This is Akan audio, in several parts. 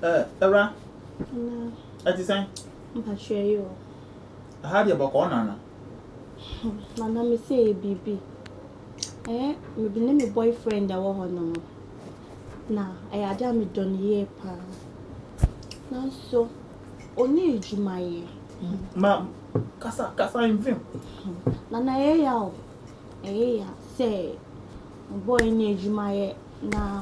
Ɛɛ, awura. Nana. Ɛte sɛn? Mpakyɛ yi o. Ɛha deɛ bɔkɔɔ nana. Hmm, nana me sɛ yɛ biribi. Ɛɛ, me ne me boyfriend ɛwɔ hɔ no mo. Na ɛyɛ ade a me dɔ no yie paa. Nanso, ɔni adwuma yɛ. Hmm, ma, kasa, kasa mfim. Hmm, nana ɛyɛ ya o. Ɛyɛ ya sɛ, me boy ni adwuma yɛ na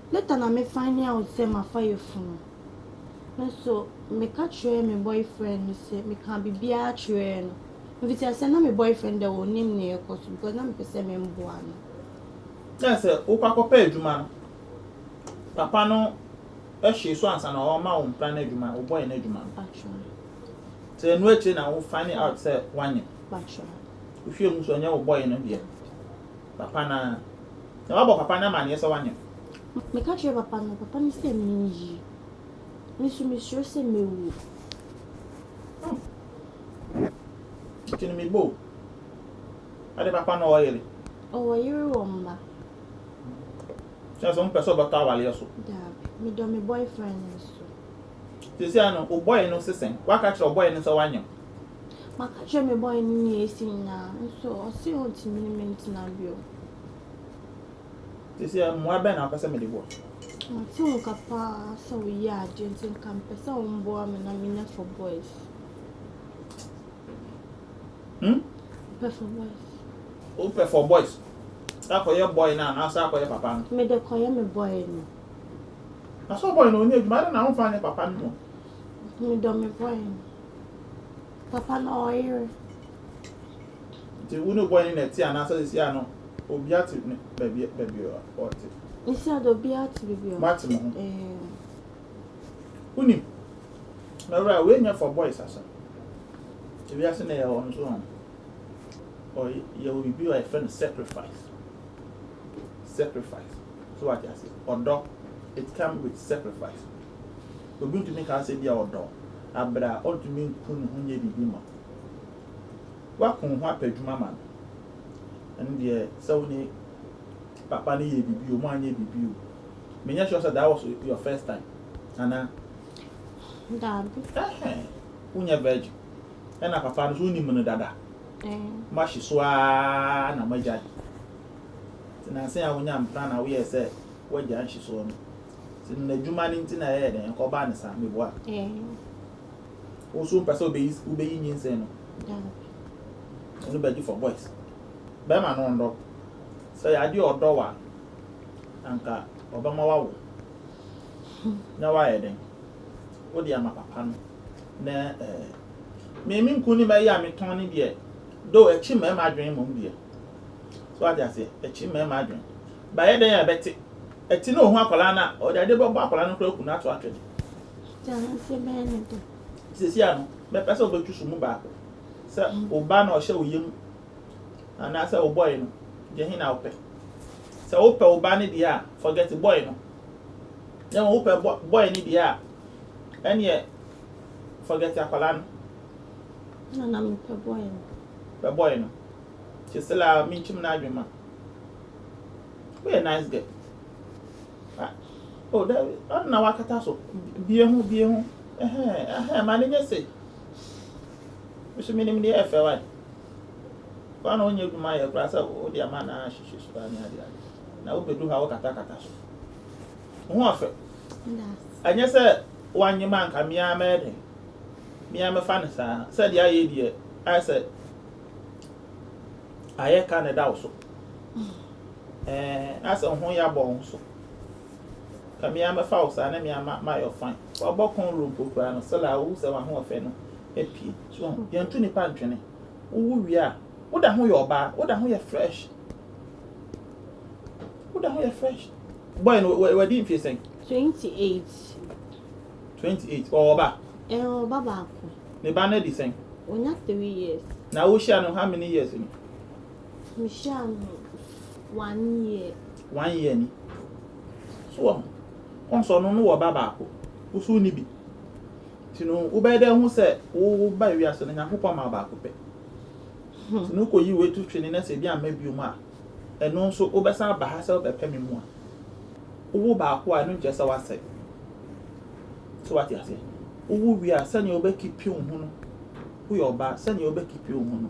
Later na me find out sɛ mafa yafunu. Me nso me ka kyerɛɛ me boyfriend no sɛ me kaa biribiara kyerɛɛ no. Mfitiase sɛ na me boyfriend deɛ ɔnnim nea ɛrekɔ so because na me pɛ sɛ me mboa no. Kyerɛ sɛ wo kɔ akɔ pɛ adwuma no papa no hwee so ansa na ɔma wo mpena no adwuma wo boy no adwuma no. Batra. Nti ɛno akyire na wo find out sɛ wanyɛ. Batra. Wo hwɛ hu sɛ ɔnyɛ wo boy no deɛ. Papa no ara. Na wabɔ papa no amanneɛ sɛ wanyem. Meka kyerɛɛ papa no, papa no sɛ minyi. Me nso misuro sɛ mewu. Hmm. Nti no me bo. Ade papa no ɔwɔ yere? Ɔwɔ yere wɔ mma. Kyerɛ sɛ wompɛ sɛ ɔbɛtɔ awareɛ so? Daabi. Medɔ me boyfriend nso. Seesei no, wo boy no se sɛn? Woaka akyerɛ wo boy no sɛ wanyem? Maka kyerɛ me bɔe ne nea asi nyinaa, nso ɔse ontumi ne me ntena bio. Seesei mmoa bɛn na wopɛ sɛ mede boa? Mate wo nka paa sɛ woyɛ ade, nti nka mepɛ sɛ womboa me na menya Four Boys. Hmm? Mepɛ Four Boys. Wopɛ Four Boys? Sɛ akɔyɛ boy no anaasɛ akɔyɛ papa no? Mede kɔyɛ me boy no. Na sɛ boy no ɔnyɛ adwuma, adɛn na womfa nyɛ papa no mmom? Medɔ me boy no. Papa na ɔyere. Nti wo ne boy no na ɛte anaasɛ sisi a no obia te baabi baabi ɔte. Sisi a de obia te baabi ɔte. Mate mo ho. Wonim mɛwura wei nyɛ for boys asɛm ebi ase na yɛ wɔn so wɔn ɔ yɛ wɔ bibi a yɛfrɛ no sacrifice sacrifice so wate ase ɔdɔ it come with sacrifice obi ntumi ka sɛ bi a ɔdɔ aber a ɔnntumi nnku noho nnyɛ biribi mma wo, woako woho apɛ edwuma ma no, ɛno deɛ sɛ wo nye papa no yɛɛ biribi o, moannyɛ biribi o, mennyɛ sure sɛ that was your first time anaa? Daabi. Ɛhɛn, wonyɛ virgin, ɛna papa no so wonim no dada? Ɛɛ. Moahye so ara na moagya no, ntsi nansa yi a wonyaa mpena na woyɛɛ sɛ woagya nhyesoɔ no, Sɛ no n'adwuma no nti na ɛyɛ dɛn nka ɔbaa ne saa meboa. Wo so mpɛ sɛ wobɛyi wobɛyi nyinsɛn no. Ɛno bɛgye for boys. Bɛrima no ɔndɔ. Sɛ yɛ adeɛ ɔdɔ wa anka ɔbɛma wawo. Na wayɛ dɛn? Wode ama papa no na ɛɛ. Me me nku ne mɛyɛ a metɔn ne deɛ. Do ɛkye mmarima adwene mmom deɛ. So ate aseɛ ɛkye mmarima adwene. Bayɛ dɛn a bɛte? Ɛte na ohu akwadaa no a, ɔde ade bɛbɔ akwadaa no koraa aku no ato atwene. Gya no mfe bɛn ne dɛ? Seesei ano, bɛpɛ sɛ wobetu so mu baako. Sɛ wo ba na ɔhyɛ wo yam anaasɛ wo boy no, gya he na wopɛ? Sɛ wopɛ wo ba no deɛ a, forget boy no. Na mmom wopɛ boy no deɛ a, ɛneɛ forget akwadaa no. Na na mepɛ boy no. Pɛ boy no. Kyesela, menkyim n'adwene ma. Woyɛ nice girl. Ah oh daabi ɔno na wakata so. Bie ho bie ho ɛhɛn ɛhɛn ma no nyɛ sei. Me so menim deɛ ɛfɛ wae. Woa na wonyɛ adwuma yɛ koraa sɛ wode ama no ahyehyɛ so ne ade ade. Na wobɛdu ha wokatakata so. Wo ho ɔfɛ. Ɛnyɛ sɛ woannye me anka me ara mɛyɛ dɛn. Me ara mɛfa no saa. Sɛdeɛ ayɛ yi deɛ ayɛ sɛ ayɛ ka na ɛda wo so. Ɛɛ na sɛ ho ya bɔ wo so. Ka me ara mɛfa wo saa na me ara mayɔ fine. Wabɔ kɔn woro mpo koraa no, still a wohu sɛ w'ahoɔfɛ no apue. So ho, yɛnto nnipa ntwene. Wowo wie a, woda ho yɛ ɔbaa, woda ho yɛ fresh. Woda ho yɛ fresh. Boy no, wadi mfie sɛn? Twenty eight. Twenty eight, ɔwɔ ba? Ɛɛ, ɔwɔ ba baako. Ne ba no adi sɛn? Onya three years. Na wohyia no how many years ni? Mehyia no one year. One year ni. So wɔ ho. Wɔn sɛ ɔno no wɔ ba baako. Wo so ni bi. Nti no wobɛyɛ dɛ hu sɛ wo ba wiase no Nyankopɔn ma baako pɛ. Nti no wokɔ yi wei to twene na sɛ ebi amma bio mu a ɛno nso wobɛsan aba ha sɛ wobɛpɛ me mu a. Wowo baako a ɛno nkyerɛ sɛ wasɛe. So wate aseɛ? Wowo wie a sɛnea wobɛkipi wo ho no woyɛ ɔbaa sɛnea wobɛkipi wo ho no.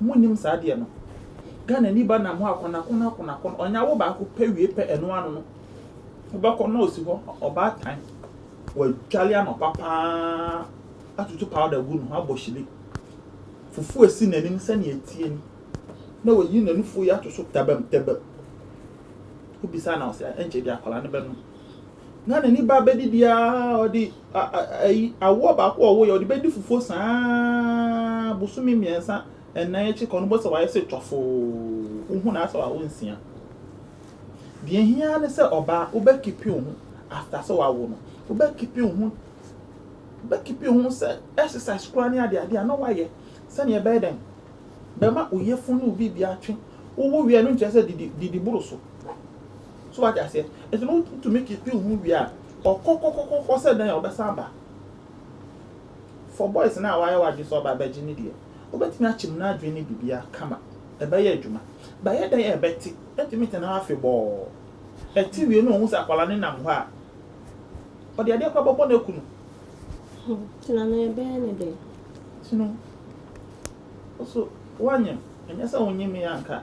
Ɔmo nnim saa adeɛ no. Ghana ni ba nam hɔ a konakon akonakon ɔnya wo baako pɛ wie pɛ ɛno ano no wobɛkɔ na ɔsi hɔ ɔbaatan wadwale anɔpa paa atutu powder agu ne ho abɔ hyire fufuo esi n'anim sɛnea etie ni na wayi n'anufuo yi ato so tɛbɛm tɛbɛm wobisa na ɔsɛ ɛnkyɛ bi akwadaa no bɛnom. na n'ani ba bɛdi biara ɔde ayi awoɔ baako a ɔwoyɛ ɔde bɛdi fufuo saa bosome mmiɛnsa ɛnan akyi kɔ no bɔ sɛ wayɛ sɛ twafoo wohu na asɛ wawo nsia deɛ hia ne sɛ ɔbaa wobɛkipi wo ho after sɛ wawo no wobɛkipi wo ho wobɛkipi wo ho sɛ exercise koraa ne adeɛ adeɛ a na wayɛ sɛdeɛ ɛbɛyɛ dɛn bɛma oyefun ne obi bi atwe wowo wia no nkyerɛ sɛ didi didi boro so So wate aseɛ? Nti no wotumi keep wo ho wie a, ɔkɔ kɔ kɔ kɔ sɛ dɛn a ɔbɛsan aba. For boys no a wayɛ w'adwene sɛ ɔba abɛgye no deɛ, wobɛtumi akyem n'adwene ne biribiara kama. Ɛbɛyɛ adwuma. But ɛyɛ dɛn a ɛbɛte? Ɛntumi ntena hɔ afebɔɔ. Ɛte wie no a ɔhu sɛ akwadaa no nam hɔ a, ɔde adeɛ koraa bɛbɔ no aku no. Nti na na ɛbɛyɛ no dɛn? Nti no, wo so woanyem. Ɛnyɛ sɛ wonyemee a anka.